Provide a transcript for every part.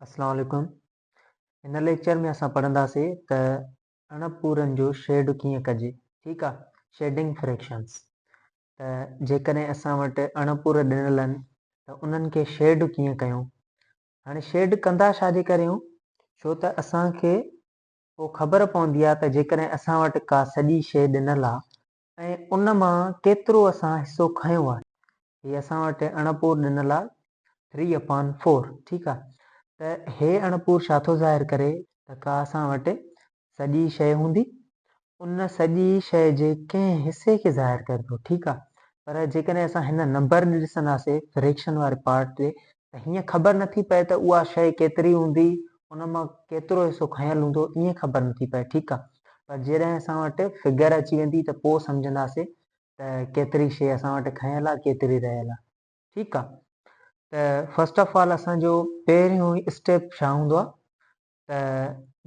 اسلام عليڪم هن ليڪچر ۾ اسان پڙهنداسي ته اڻ پورن جو شيڊ ڪيئن ڪجي ٺيڪ آ شيڊنگ فريڪشنز ته جيڪڏهن اسان وٽ اڻ پور ڏنل آهن ته انهن کي شيڊ ڪيئن ڪيون هاڻي شيڊ ڪندا ڇا جي ڪري آهيون ڇو ته اسان کي پوء خبر پوندي آ ته جيڪڏهن اسان وٽ ڪا سڄي شيء ڏنل آ ۽ ان مان ڪيترو اسان حصو کنيو آهي. هي اسان وٽ اڻپور ڏنل آهي Three upon Four ٺيڪ آهي ته هي اڻپور ڇا ٿو ظاهر ڪري ته ڪا اسان وٽ سڄي شيء هوندي ان سڄي شيء جي ڪنهن حصي کي ظاهر ڪري ٿو ٺيڪ آهي پر جيڪڏهن اسان هن نمبر ڏي ڏسنداسي فريڪشن واري پارٽ ڏي ته هيئن خبر نه ٿي پئي ته اها شيء ڪيتري هوندي، ان مان ڪيترو حصو کنيل هوندو، ائين خبر نه ٿي پئي، ٺيڪ آ، پر جيڏهن اسان وٽ فگر اچي ويندي ته پوء سمجهنداسي ته ڪيتري شيء اسان وٽ کنيل آ، ڪيتري رهيل آ، ٺيڪ آ، ته فرسٽ آف آل اسان جو پهريون اسٽيپ ڇا هوندو آ ته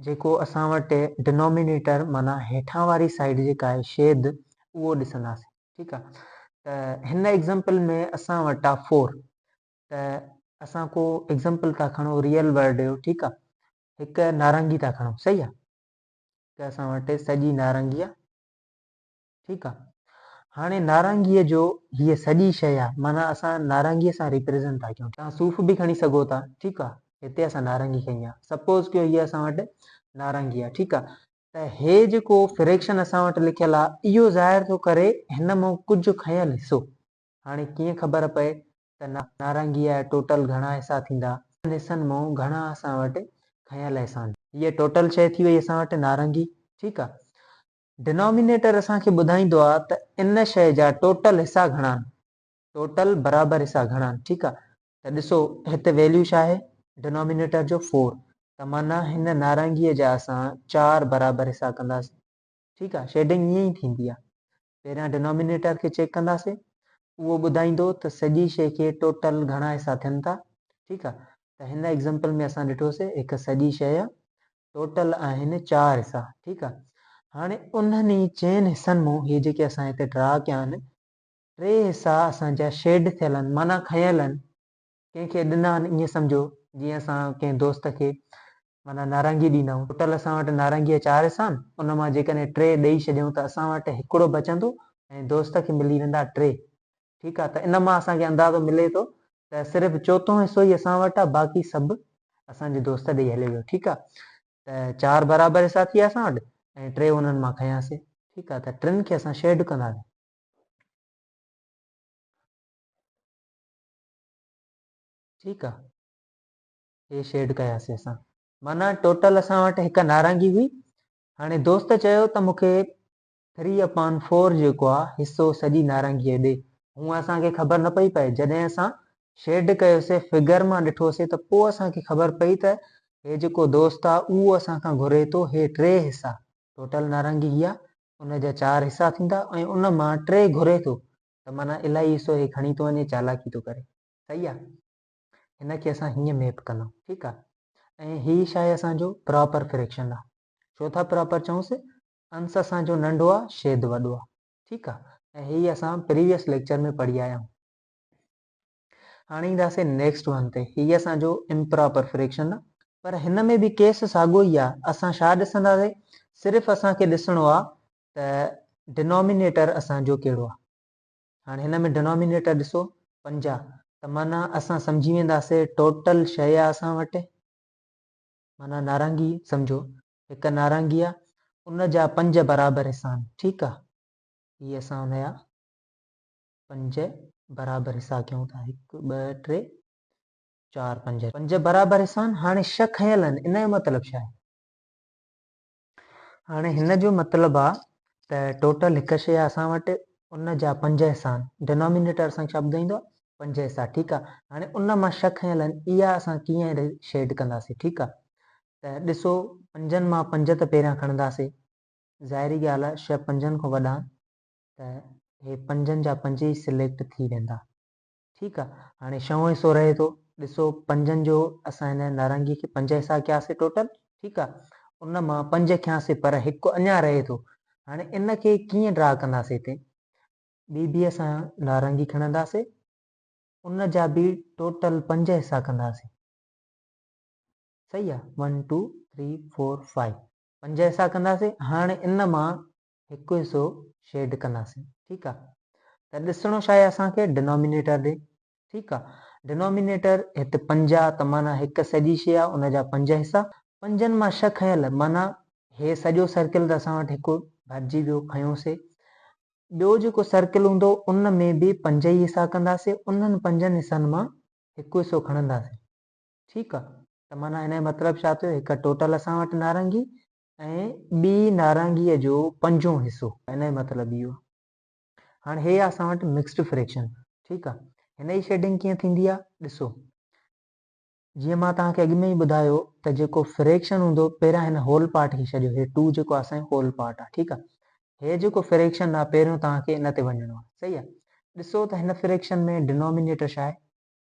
جيڪو اسان وٽ Denominator معنيٰ هيٺان واري سائيڊ جيڪا آهي شيد اهو ڏسنداسين ٺيڪ آهي ته هن ايگزامپل ۾ اسان وٽ آهي فور ته اسان ڪو ايگزامپل ٿا کڻو ريئل ورلڊ جو ٺيڪ آهي هڪ نارنگي ٿا کڻو صحيح آهي ته اسان وٽ سڄي نارنگي آهي ٺيڪ آ هاڻي نارنگيء جو هيء سڄي شيء آ معنيٰ اسان نارنگيء سان ريپريزنٽ ٿا ڪيون توهان صوف به کڻي سگهو ٿا ٺيڪ آ هتي اسان نارنگي کنئي آ سپوز ڪيو هيء اسان وٽ نارنگي آ ٺيڪ آ ته هي جيڪو فريڪشن اسان وٽ لکيل آ اهو ظاهر ٿو ڪري هن مون ڪجهه کنيل حصو هاڻي ڪيئن خبر پئي ته نارنگيء جا ٽوٽل گهڻا حصا ٿيندا انهن حصن مون گهڻا اسان وٽ کنيل حصا هوندا هيء ٽوٽل شيء ٿي وئي اسان وٽ نارنگي ٺيڪ آ Denominator اسان کي ٻڌائيندو آ ته ان شئي جا ٽوٽل حصا گهڻا آهن ٽوٽل برابر حصا گهڻا آهن ٺيڪ آ ته ڏسو هت ويليو ڇا آهي Denominator جو فور ته معنيٰ هن نارنگيء جا اسان چار برابر حصا ڪنداسين ٺيڪ آ شيڊنگ ائين ئي ٿيندي آ پهريان Denominator کي چيڪ ڪنداسين اهو ٻڌائيندو ته سڄي شئي کي ٽوٽل گهڻا حصا ٿين ٿا ٺيڪ آ ته هن ايگزامپل ۾ اسان ڏٺوسي هڪ سڄي شئي آ ٽوٽل آهن چار حصا ٺيڪ آ هاڻي انهن ئي چئن حصن مون هي جيڪي اسان هتي ڊرا ڪيا آهن ٽي حصا اسان جا شيڊ ٿيل آهن معنيٰ کنيل آهن ڪنهن کي ڏنا آهن ائين سمجهو جيئن اسان ڪنهن دوست کي معنيٰ نارنگي ڏيندا آهيون ٽوٽل اسان وٽ نارنگي جا چار حصا آهن ان مان جيڪڏهن ٽي ڏئي ڇڏيون ته اسان وٽ هڪڙو بچندو ۽ دوست کي ملي ويندا ٽي ٺيڪ آ ته ان مان اسان کي اندازو ملي ٿو ته صرف چوٿون حصو ئي اسان وٽ آ باقي سڀ اسان جي دوست ڏئي هليو ويو ٺيڪ آ ته چار برابر حصا ٿي ويا اسان وٽ ۽ ٽي انهن مان کنياسي ٺيڪ آ ته ٽن کي اسان شيئرڊ ڪنداسين. ٺيڪ آ هي شيئرڊ ڪياسي اسان معنيٰ ٽوٽل اسان وٽ هڪ نارنگي هئي هاڻي دوست چيو ته مون کي ٿري اپان فور جيڪو آ حصو سڄي نارنگيء ڏي هونء اسان کي خبر نه پئي پئي جڏهن اسان شيڊ ڪيوسي فگر مان ڏٺوسي ته پوء اسان کي خبر پئي ته هي جيڪو دوست آ اهو اسان کان گهري ٿو هي ٽي حصا ٽوٽل نارنگي هي آ ان جا چار حصا ٿيندا ۽ ان مان ٽي گهري ٿو ته معنيٰ الائي حصو هي کڻي ٿو وڃي چالاڪي ٿو ڪري صحيح آ هن کي اسان هيئن ميپ ڪندائون ٺيڪ آ ۽ هي شايد اسان جو پراپر فريڪشن آ ڇو ٿا پراپر چئونسي انس اسان جو ننڍو آ شيد وڏو آ ٺيڪ آ ۽ هي اسان پريويس ليڪچر ۾ پڙهي آيا آهيون هاڻي ايندا سي نيڪسٽ ون تي هي اسان جو امپراپر فريڪشن آ پر هن ۾ به ڪيس ساڳو ئي آ اسان شا ڏسندا سي صرف اسان کي ڏسڻو آ ته ڊنومينيٽر اسان جو ڪهڙو آ هاڻي هن ۾ ڊنومينيٽر ڏسو پنجاهه ته معنيٰ اسان سمجهي ويندا سي ٽوٽل شيء آ اسان وٽ معنيٰ نارنگي سمجهو هڪ نارنگي آ ان جا پنج برابر حصا آهن ٺيڪ آ هي اسان ان جا پنج برابر حصا ڪيون ٿا هڪ ٻه ٽي چار پنج پنج برابر حصا آهن هاڻي شھ کنيل آهن ان جو مطلب ڇا آهي هاڻي هن جو مطلب آ ته ٽوٽل هڪ شي آ اسان وٽ ان جا پنج حصا آهن ڊينامينيٽر اسان کي ڇا ٻڌائيندو آ پنج حصا ٺيڪ آ هاڻي ان مان شھ کنيل آهن اها اسان ڪيئن شيڊ ڪنداسين ٺيڪ آ ته ڏسو پنجن مان پنج ته پهريان کڻنداسين، ظاهري ڳالهه آهي شهه پنجن کان وڏا آهن ته هي پنجن جا پنج ئي سليڪٽ ٿي ويندا. ٺيڪ آهي هاڻي شهون حصو رهي ٿو، ڏسو پنجن جو اسان هن نارنگيء کي پنج حصا ڪياسين ٽوٽل ٺيڪ آهي ان مان پنج کنياسين پر هڪ اڃا رهي ٿو هاڻي ان کي ڪيئن ڊرا ڪنداسين هتي ٻي به اسان نارنگي کڻنداسين ان جا به ٽوٽل پنج حصا ڪنداسين. صحيح آ one two three four five پنج حصا ڪنداسين هاڻي ان مان هڪ حصو شيڊ ڪنداسين ٺيڪ آ ته ڏسڻو ڇا آهي اسان کي ڊنومينيٽر ڏي ٺيڪ آ ڊنومينيٽر هت پنج آ ته معنيٰ هڪ سڄي شيء آ ان جا پنج حصا پنجن مان ڇهه کنيل معنيٰ هي سڄو سرڪل ته اسان وٽ هڪ ڀرجي ويو کنيوسي ٻيو جيڪو سرڪل هوندو ان ۾ به پنج ئي حصا ڪنداسين انهن پنجن حصن مان هڪ حصو کڻنداسين ٺيڪ آ ته معنيٰ ان جو مطلب ڇا ٿيو هڪ ٽوٽل اسان وٽ نارنگي ۽ ٻي نارنگي جو پنجون حصو ان جو مطلب اهو آ هاڻ هي آ اسان وٽ مڪسڊ فريڪشن ٺيڪ آ هن جي شيڊنگ ڪيئن ٿيندي آ ڏسو جيئن مان توهان کي اڳ ۾ ئي ٻڌايو ته جيڪو فريڪشن هوندو پهريان هن هول پارٽ کي ڇڏيو هي ٽو جيڪو آ اسان جو هول پارٽ آ ٺيڪ آ هي جيڪو فريڪشن آ پهريون توهان کي ان تي وڃڻو آ صحيح آ ڏسو ته هن فريڪشن ۾ ڊنومينيٽر ڇا آهي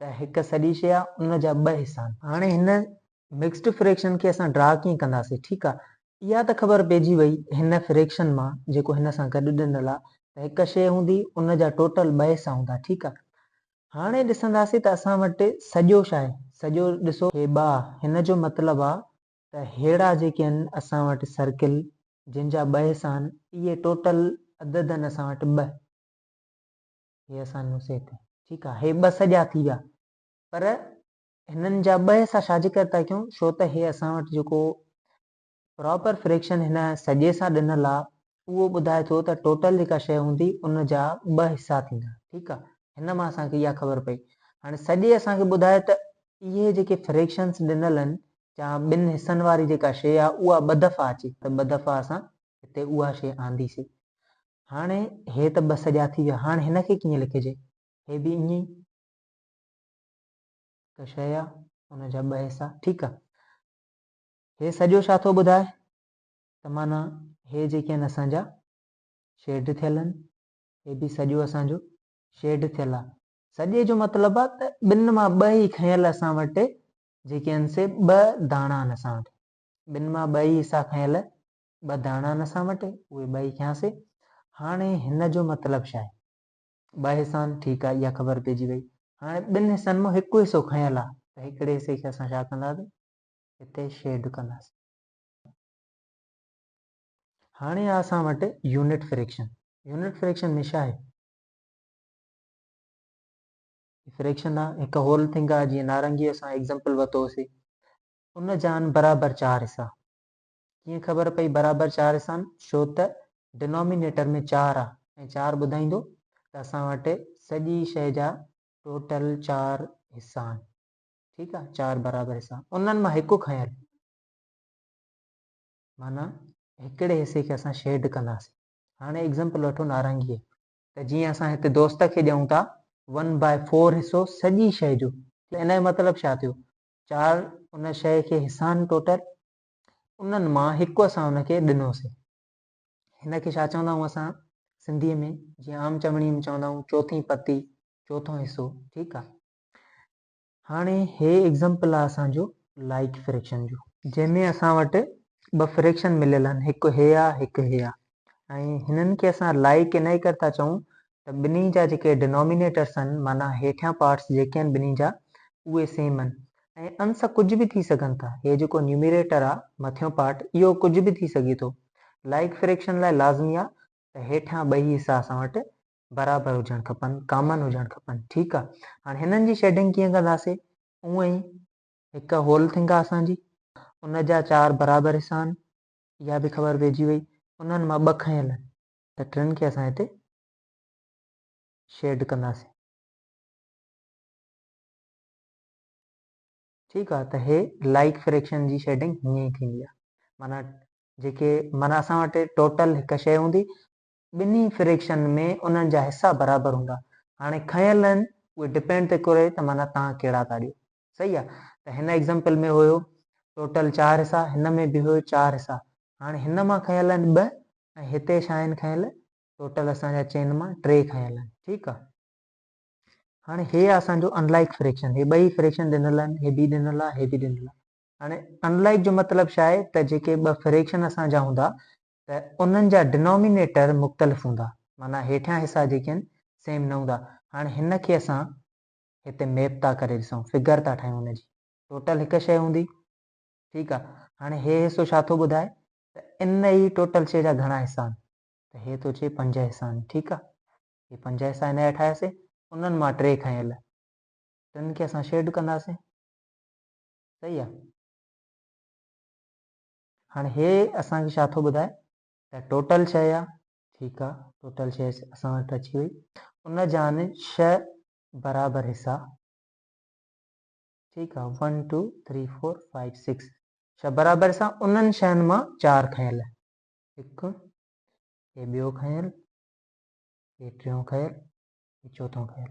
ته هڪ سڄي شيء آ ان جا ٻه حصا آهن. هاڻي هن مڪسڊ فريڪشن کي اسان ڊرا ڪيئن ڪنداسين ٺيڪ آ اها ته خبر پئجي وئي هن فريڪشن مان جيڪو هن سان گڏ ڏنل آ ته هڪ شيء هوندي ان جا ٽوٽل ٻه حصا هوندا ٺيڪ آ هاڻي ڏسنداسين ته اسان وٽ سڄو شاهي سڄو ڏسو هي ٻه آ هن جو مطلب آ ته ههڙا جيڪي آهن اسان وٽ سرڪل جن جا ٻه حصا آهن اهي ٽوٽل عدد آهن اسان وٽ ٻه. هي اسان نوسي تي. ٺيڪ آ هي ٻه سڄا ٿي ويا پر هنن جا ٻه حصا ڇاجي ڪري ٿا ڪيون ڇو ته هي اسان وٽ جيڪو پراپر فريڪشن هن سڄي سان ڏنل آ اهو ٻڌائي ٿو ته ٽوٽل جيڪا شيء هوندي ان جا ٻه حصا ٿيندا ٺيڪ آ هن مان اسان کي اها خبر پئي هاڻي سڄي اسان کي ٻڌائي ته اهي جيڪي فريڪشنس ڏنل ان جا ٻن حصن واري جيڪا شيء آ اها ٻه دفعا اچي ته ٻه دفعا اسان هتي اها شيء آندي سي هاڻي هي ته ٻه سڄا ٿي ويا، هاڻ هن کي ڪيئن لکجي؟ هي به ائين ئي هڪ شيء آ، ان جا ٻه حصا، ٺيڪ آ. هي سڄو ڇا ٿو ٻڌائي ته معنيٰ هي جيڪي آهن اسان جا شيڊ ٿيل آهن، هي به سڄو اسان جو شيڊ ٿيل آ. سڄي جو مطلب آ ته ٻن مان ٻه ئي کنيل اسان وٽ جيڪي آهن سي ٻه داڻا آهن اسان وٽ، ٻن مان ٻه ئي حصا کنيل ٻه داڻا نه سان وٽي، اهي ٻئي کنياسي. هاڻي هن جو مطلب ڇا آهي؟ ٻه حصان، ٺيڪ آهي، اها خبر پئجي وئي. هاڻي ٻن حصن مان هڪ حصو کنيل آهي ته هڪڙي حصي کي اسان ڇا ڪنداسين؟ هتي شيڊ ڪنداسين. هاڻي آهي اسان وٽ يونٽ فريڪشن. يونٽ فريڪشن ۾ ڇا آهي؟ فريڪشن آهي، هڪ هول ٿنگ آهي، جيئن نارنگيء اسان ايگزامپل ورتو هوسي، ان جا آهن برابر چار حصا. ڪيئن خبر پئي برابر چار سان ڇو ته ڊنامينيٽر ۾ چار آ ۽ چار ٻڌائيندو ته اسان وٽ سڄي شئي جا ٽوٽل چار حصا آھن ٺيڪ آ چار برابر حصا انھن مان ھڪ کنيل معنيٰ ھڪڙي حصي کي اسان شيڊ ڪنداسين ھاڻي ايگزمپل وٺو نارنگي جي ته جيئن اسان ھتي دوست کي ڏيون ٿا ون بائي فور حصو سڄي شئي جو ته ان جو مطلب ڇا ٿيو چار ان شئي کي حصا آھن ٽوٽل انهن مان هڪ اسان هن کي ڏنوسين. هن کي ڇا چوندا آهيون اسان سنڌيء ۾ جيئن عام چوڻيء ۾ چوندا آهيون چوٿين پتي، چوٿون حصو، ٺيڪ آهي. هاڻي هي ايگزامپل آهي اسان جو لائيڪ فريڪشن جو. جنهن ۾ اسان وٽ ٻه فريڪشن مليل آهن هڪ هي آهي هڪ هي آهي. ۽ هنن کي اسان لائي ڪي نئي ڪر ٿا چئون ته ٻنهي جا جيڪي Denominators آهن معنيٰ هيٺيان Parts جيڪي آهن ٻنهي جا اهي Same آهن ۽ انس ڪجهه به ٿي سگهن ٿا هي جيڪو Numerator آ مٿيون Part اهو ڪجهه به ٿي سگهي ٿو Like Fraction لاء لازمي آ ته هيٺيان ٻئي حصا اسان وٽ برابر هجڻ کپن Common هجڻ کپن ٺيڪ آ هاڻي هنن جي Shading ڪيئن ڪنداسي اونئن ئي هڪ Whole Thing آ اسان جي ان جا چار برابر حصا آهن اها به خبر پئجي وئي انهن مان ٻه کنيل آهن ته ٽن کي اسان هتي شيڊ ڪنداسين ٺيڪ آهي ته هي لائيڪ فريڪشن جي شيڊنگ هيئن ئي ٿيندي آهي معنيٰ جيڪي معنيٰ اسان وٽ ٽوٽل هڪ شيء هوندي ٻنهي فريڪشن ۾ انهن جا حصا برابر هوندا هاڻي کنيل آهن اهي ڊپينڊ ٿي ڪري ته معنيٰ توهان ڪهڙا ٿا ڏيو صحيح آهي ته هن ايگزامپل ۾ هيو ٽوٽل چار حصا هن ۾ به هيو چار حصا هاڻي هن مان کنيل آهن ٻه ۽ هتي ڇا آهن کنيل ٽوٽل اسان جا چئن مان ٽي کنيل آهن ٺيڪ آهي هاڻي هي آهي اسان جو انلائڪ فريڪشن هي ٻئي فريڪشن ڏنل آهن هي به ڏنل آهي هي به ڏنل آهي هاڻي انلائڪ جو مطلب ڇا آهي ته جيڪي ٻه فريڪشن اسان جا هوندا ته انهن جا Denominator مختلف هوندا معنيٰ هيٺيان حصا جيڪي آهن Same نه هوندا هاڻ هن کي اسان هتي Map ٿا ڪري ڏسون Figure ٿا ٺاهيون ان جي Total هڪ شيء هوندي ٺيڪ آهي هاڻي هي حصو ڇا ٿو ٻڌائي ته ان ئي Total شيء جا گهڻا حصا آهن ته هي ٿو چئي پنج حصا آهن ٺيڪ آهي هي پنج حصا هن جا ٺاهياسين انهن مان ٽي کنيل ٽن کي اسان Shade ڪنداسين صحيح آهي. هاڻي هي اسان کي ڇا ٿو ٻڌائي ته ٽوٽل شيء آ ٺيڪ آ ٽوٽل شيء اسان وٽ اچي وئي ان جان شھ برابر حصا ٺيڪ آ one two three four five six شھ برابر حصا انهن شين مان چار کنيل هڪ هي ٻيو کنيل هي ٽيون کنيل هي چوٿون کنيل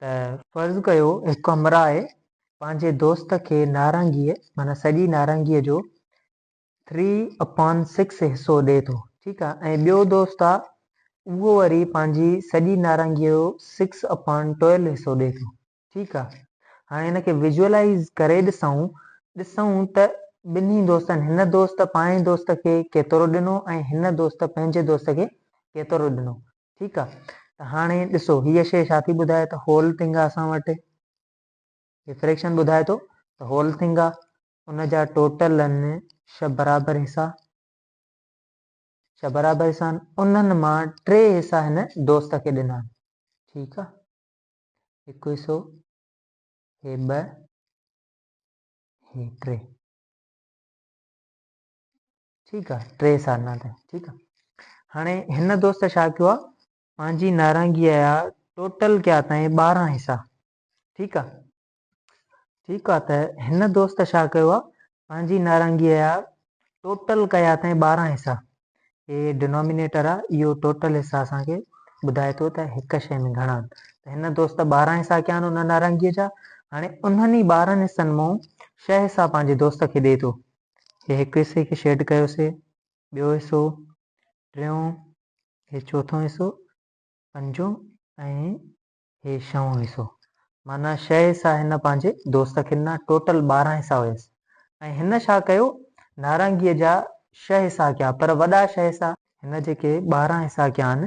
ته فرض ڪيو هڪ همراهه پنهنجي دوست کي نارنگيء معنيٰ سڄي نارنگيء جو ٿري اپان سڪس حصو ڏئي ٿو ٺيڪ آهي ۽ ٻيو دوست آهي اهو وري پنهنجي سڄي نارنگيء جو سڪس اپان ٽويلو حصو ڏئي ٿو ٺيڪ آهي هاڻي هن کي ويجوئلائيز ڪري ڏسون ڏسون ته ٻنهي دوستن هن دوست پنهنجي دوست کي ڪيترو ڏنو ۽ هن دوست پنهنجي دوست کي ڪيترو ڏنو ٺيڪ آ ته هاڻي ڏسو هيء شيء ڇا ٿي ٻڌائي ته هول ٿنگ آ اسان وٽ هي فريڪشن ٻڌائي ٿو ته هول ٿنگ آ ان جا ٽوٽل آهن ڇهه برابر حصا ڇهه برابر حصا آهن انهن مان ٽي حصا هن دوست کي ڏنا آهن ٺيڪ آ هڪ حصو هي ٻه هي ٽي ٺيڪ آ ٽي سالنا تائين ٺيڪ آ هاڻي هن دوست ڇا ڪيو آ پنهنجي نارنگيء جا ٽوٽل ڪيا تائين ٻارهن حصا ٺيڪ آ ٺيڪ آ ته هن دوست ڇا ڪيو آ پنهنجي نارنگيء جا ٽوٽل ڪيا تائين ٻارهن حصا هي ڊنومينيٽر آ اهو ٽوٽل حصا اسان کي ٻڌائي ٿو ته هڪ شيء ۾ گهڻا آهن ته هن دوست ٻارهن حصا ڪيا آهن ان نارنگيء جا هاڻي انهن ئي ٻارهن حصن مون شهه حصا پنهنجي دوست کي ڏئي ٿو هي هڪ حصي کي شيڊ ڪيوسي، ٻيو حصو، ٽيون، هي چوٿون حصو، پنجون ۽ هي شهون حصو. معنيٰ شهه حصا هن پنهنجي دوست کي ڏنا، ٽوٽل ٻارهن حصا هيس ۽ هن ڇا ڪيو، نارنگيء جا شهه حصا ڪيا، پر وڏا شهه حصا. هن جيڪي ٻارهن حصا ڪيا آهن،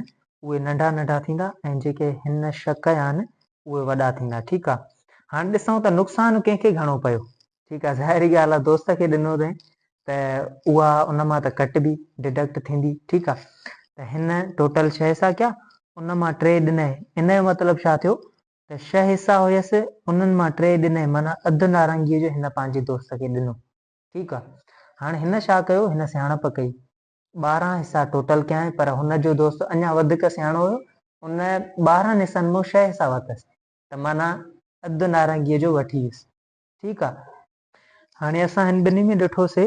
اهي ننڍا ننڍا ٿيندا ۽ جيڪي هن شهه ڪيا آهن، اهي وڏا ٿيندا. ٺيڪ آ، هاڻ ڏسون ته نقصان ڪنهن کي گهڻو پيو. ٺيڪ آ ظاهري ڳالهه آ دوست کي ڏنو اٿئين ته اها ان مان ته ڪٽبي Deduct ٿيندي ٺيڪ آ ته هن ٽوٽل ڇهه حصا ڪيا ان مان ٽي ڏنئين ان جو مطلب ڇا ٿيو ته ڇهه حصا هيس انهن مان ٽي ڏنئين معنيٰ اڌ نارنگيء جو هن پنهنجي دوست کي ڏنو ٺيڪ آ هاڻي هن ڇا ڪيو هن سياڻپ ڪئي ٻارهن حصا ٽوٽل ڪيائين پر هن جو دوست اڃا وڌيڪ سياڻو هيو ان ٻارهن حصن مون ڇهه حصا ورتس ته معنيٰ اڌ نارنگيء جو وٺي ويس ٺيڪ آ هاڻي اسان هن ٻنهي ۾ ڏٺو سي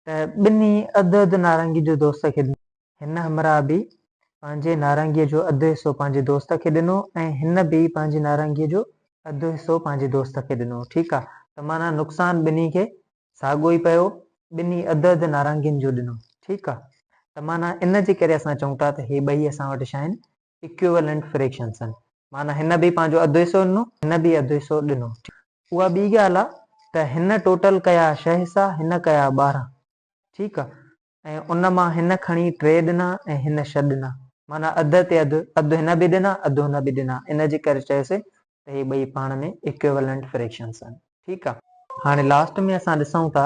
ته ٻنهي اڌ اڌ نارنگي جو دوست کي ڏنو. هن همراهه به پنهنجي نارنگيء جو اڌ حصو پنهنجي دوست کي ڏنو ۽ هن به پنهنجي نارنگيء جو اڌ حصو پنهنجي دوست کي ڏنو ٺيڪ آ ته معنيٰ نقصان ٻنهي کي ساڳو ئي پيو ٻنهي اڌ اڌ نارنگين جو ڏنو ٺيڪ آ ته معنيٰ ان جي ڪري اسان چئون ٿا ته هي ٻئي اسان وٽ شاين Equivalent Fractions، معنيٰ هن به پنهنجو اڌ حصو ڏنو، هن به اڌ حصو ڏنو. اها ٻي ڳالهه آهي ته هن ٽوٽل ڪيا ڇهه حصا، هن ڪيا ٻارهن. ٺيڪ آهي. ۽ ان مان هن کڻي ٽي ڏنا ۽ هن ڇهه ڏنا. معنيٰ اڌ تي اڌ، اڌ هن به ڏنا، اڌ هن به ڏنا. ان جي ڪري چيوسين ته هي ٻئي پاڻ ۾ Equivalent Fractions آهن. ٺيڪ آهي. هاڻي لاسٽ ۾ اسان ڏسون ٿا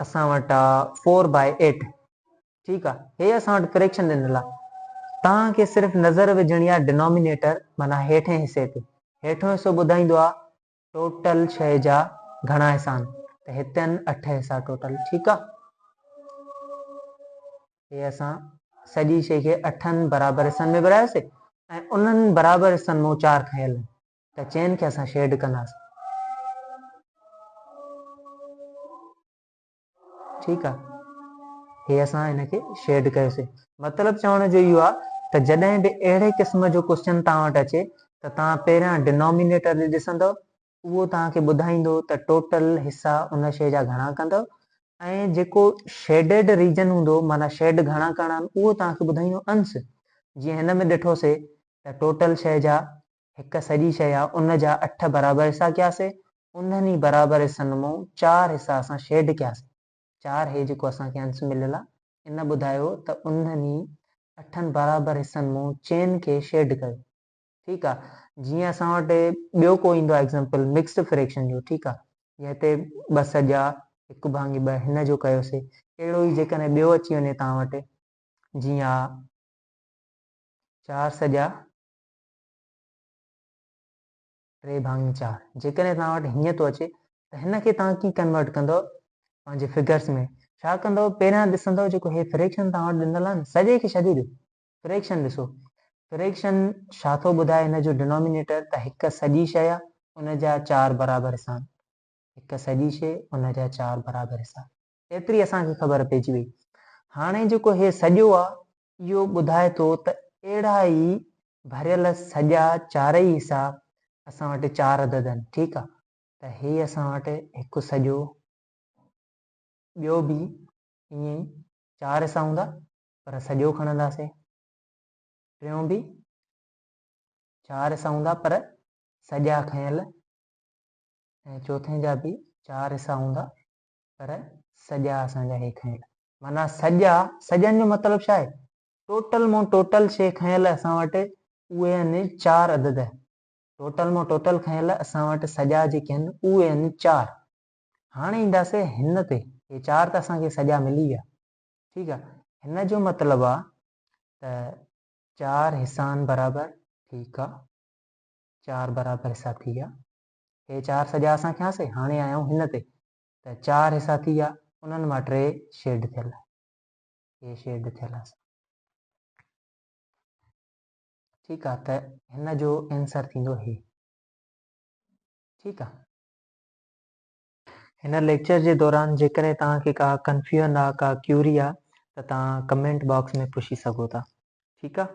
اسان وٽ آ فور باء ايٽ ٺيڪ آ هي اسان وٽ فريڪشن ڏنل آ توهان کي صرف نظر وجهڻي آ ڊنومينيٽر معنيٰ هيٺين حصي تي هيٺون حصو ٻڌائيندو آ ٽوٽل شئي جا گهڻا حصا آهن ته هتن اٺ حصا ٽوٽل ٺيڪ آ هي اسان سڄي شئي کي اٺن برابر حصن ۾ ورهايوسي ۽ انهن برابر حصن مون چار کنيل ته چين کي اسان شيڊ ڪنداسين. ٺيڪ آ هي اسان هن کي شيڊ ڪيوسي. مطلب چوڻ جو اهو آ ته جڏهن به اهڙي قسم جو ڪوسچن توهان وٽ اچي ته توهان پهريان ڊنومينيٽر ڏي ڏسندؤ اهو توهان کي ٻڌائيندو ته ٽوٽل حصا ان شيء جا گهڻا ڪندؤ ۽ جيڪو شيڊيڊ ريجن هوندو معنيٰ شيڊ گهڻا ڪرڻا آهن اهو توهان کي ٻڌائيندو انس جيئن هن ۾ ڏٺوسي ته ٽوٽل شيء جا هڪ سڄي شيء يا ان جا اٺ برابر حصا ڪياسين، انهن ئي برابر حصن مئون چار حصا اسان شيڊ ڪياسين. چار هي جيڪو اسان کي انس مليل آ. ان ٻڌايو ته انهن ئي اٺن برابر حصن مئون چئن کي شيڊ ڪيو. ٺيڪ آ. جيئن اسان وٽ ٻيو ڪو ايندو آ ايگزامپل مڪسڊ فريڪشن جو ٺيڪ آ. جيئن هتي ٻه سڄا هڪ ڀاڱي ٻه هن جو ڪيوسي. اهڙو ئي جيڪڏهن ٻيو اچي وڃي توهان وٽ جيئن آ چار سڄا ٽي ڀاڱي چار جيڪڏهن توهان وٽ هيئن ٿو اچي ته هن کي توهان ڪيئن ڪنورٽ ڪندو پنهنجي فگرس ۾ ڇا ڪندو پهريان ڏسندو جيڪو هي فريڪشن توهان وٽ ڏنل آهي نه سڄي کي ڇڏي ڏيو فريڪشن ڏسو فريڪشن ڇا ٿو ٻڌائي هن جو ڊنومينيٽر ته هڪ سڄي شئي آهي ان جا چار برابر حصا آهن هڪ سڄي شئي ان جا چار برابر حصا ايتري اسان کي خبر پئجي وئي. هاڻي جيڪو هي سڄو آ، اهو ٻڌائي ٿو ته اهڙا ئي ڀريل سڄا چارئي حصا اسان وٽ چار عدد آهن، ٺيڪ آ، ته هي اسان وٽ هڪ سڄو، ٻيو به ائين ئي چار حصا هوندا، پر سڄو کڻنداسين، ٽيون به چار حصا هوندا پر سڄا کنيل ۽ چوٿين جا به چار حصا هوندا، پر سڄا اسان جا هي کنيل. معنيٰ سڄا، سڄن جو مطلب ڇا آهي؟ ٽوٽل مون ٽوٽل شي کنيل اسان وٽ اهي آهن چار عدد. ٽوٽل مون ٽوٽل کنيل اسان وٽ سڄا جيڪي آهن اهي آهن چار. هاڻي اينداسي هن تي. هي چار ته اسان کي سڄا ملي ويا. ٺيڪ آ. هن جو مطلب آ ته چار حصان برابر ٺيڪ آ. چار برابر حصا ٿي ويا. هي چار سڄا اسان کياسي، هاڻي آيا آهيون هن تي ته چار حصا ٿي ويا، انهن مان ٽي شيڊ ٿيل آهن. هي شيڊ ٿيل آهن. ٺيڪ آهي ته هن جو ائنسر ٿيندو هي. ٺيڪ آهي. هن ليڪچر جي دوران جيڪڏهن توهان کي ڪا ڪنفيون آهي، ڪا ڪيوري آهي ته توهان ڪمينٽ باڪس ۾ پڇي سگهو ٿا. ٺيڪ آهي.